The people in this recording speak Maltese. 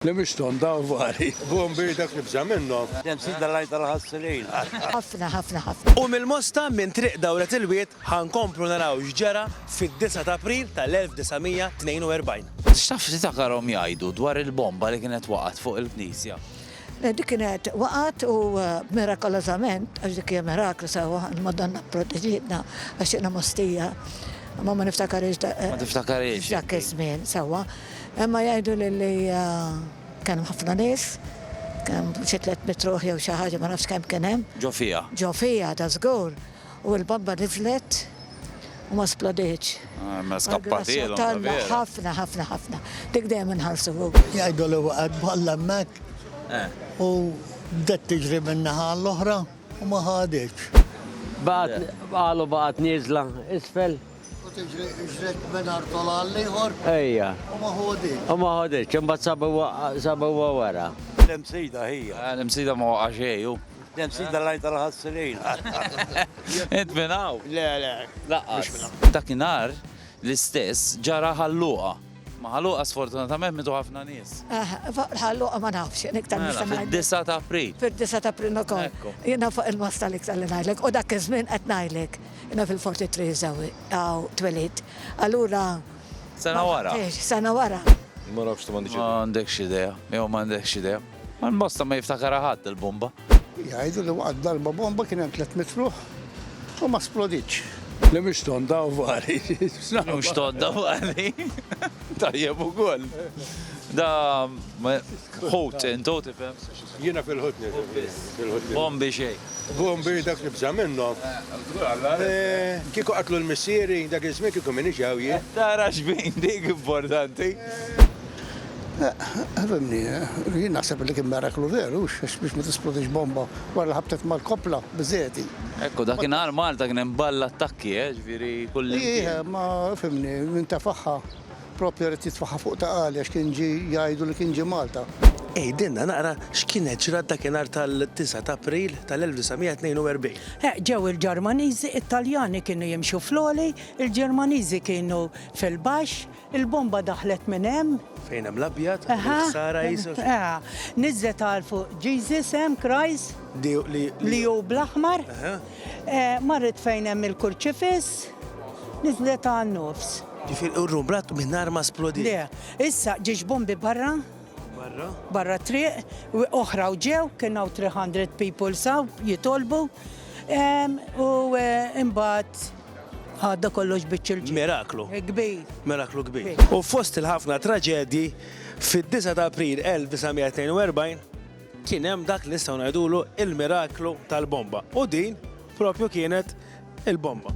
Li mhix tonda u vari. B'hom b'idek tibża' minnhom. Dejjem sibna l-għajn tal-ħassrin. Ħafna, ħafna, ħafna. U mill-Mosta minn Triq Dawret il-Wied ħa nkomplu naraw x'ġara fid-disgħa ta' April tal-1942. X'taf tiftakarhom jgħidu dwar il-bomba li kienet waqgħet fuq il-knisja? Dik kienet waqgħet u mirakolożament, għax dik hija miraklu sewwa, il-Madonna pproteġietna għax jiena Mostija, imma ma niftakarhiex dak iż-żmien sewwa. Imma jgħiduli li kien hemm ħafna nies, kien hemm xi tliet mitt ruħ jew xi ħaġa, ma nafx kemm kien hemm. Ġo fiha? Ġo fiha, ta' żgur. U l-bomba niżlet u ma splodietx. Ah, mela skappatilhom, ta' vera. Ħafna, ħafna, ħafna. Dik dejjem inħarsu fuq. Jgħidu li waqgħet balla hemmhekk u bdiet tiġri min-naħa għall-oħra u ma ħaditx. Baqgħet, qalu baqgħet nieżla isfel. U tiġri ġret minn artol għal ieħor. Ejja. U ma ħoditx. U ma ħoditx, imbagħad sabu huwa wara. L-imsida hija. Eh, l-imsida ma waqa' xejju. L-imsida lajn tal-ħassilin. Int minn hawn? Le, le. Laqqas. Dakinhar l-istess ġara ħalluqa. Maħluqa sfortunatament mitu ħafna nies. Eh, fuq il-ħalluqa ma nafx, jien iktar Mela, nista' ngħidlek. fid-9 ta' April. Fid-9 ta' April ukoll. Ekku. Jiena fuq il-mas tal-iktar li ngħidlek. U dak iż-żmien qed ngħidlek. Jiena fil-43 żewwi hawn twelid. Allura Sena wara. Tgħix, sena wara. Ma nafx, m'għandix Ma idea. għandekx idea, jew ma għandekx idea. Għal bosta ma jiftakara ħadd il-bomba. Jgħidu li waqgħet darba bomba kien hemm tliet mitruħ u ma sploditx. Li mhux tonda u vari. Mhux tonda u vari. Tajjeb ukoll. Da ħut intu tifhem. Jiena fil-ħut nifhem. Bombi xejn. Bombi dak li bża minnhom. Eh, eh, kieku qatlu l-missieri dak iż-żmien kieku minix hawn jien. Tara x'bin dik importanti. Fimni, jien naħseb li kien meraklu veru, għax biex ma tisplodix bomba wara li ħabtet mal-koppla, biżżejjed hi. Hekk hu, dakinhar Malta kien hemm ball attakki, eh, ġifieri kullimkien. Hi, imma fimni, min tefaħha proprju rid jitfaħħa fuq ta' għali għax kien ġie jgħidu li kien ġie Malta. Għidilna naqra x'kienet ġrat dakinhar tal-disgħa ta' April tal-1942. Eh, ġew il-Ġermaniżi, it-Taljani kienu jimxu fl-għoli, il-Ġermaniżi kienu fil-baxx, Il-bomba daħlet minn hemm. Fejn hemm l-abjad, il-ħsara qisu. Aha. Niżżet għal fuq Jesus hemm, Christ. Li hu bl-aħmar. Marret fejn hemm il-kurċifiss, niżżlet għan-nofs. Ġifieri u r-room brat mingħajr ma splodiet. Le, issa ġiex bombi barra. Barra? Barra triq, oħra u ġew, kien hawn 300 people saw jitolbu. U imbagħad. Għadda kollox biċċ il-ġid. Miraklu. Kbir. Miraklu kbir. U fost il-ħafna traġedji, fid-9 ta' April 1942 kien hemm dak li nistgħu ngħidulu il-miraklu tal-bomba. U din propju kienet il-bomba.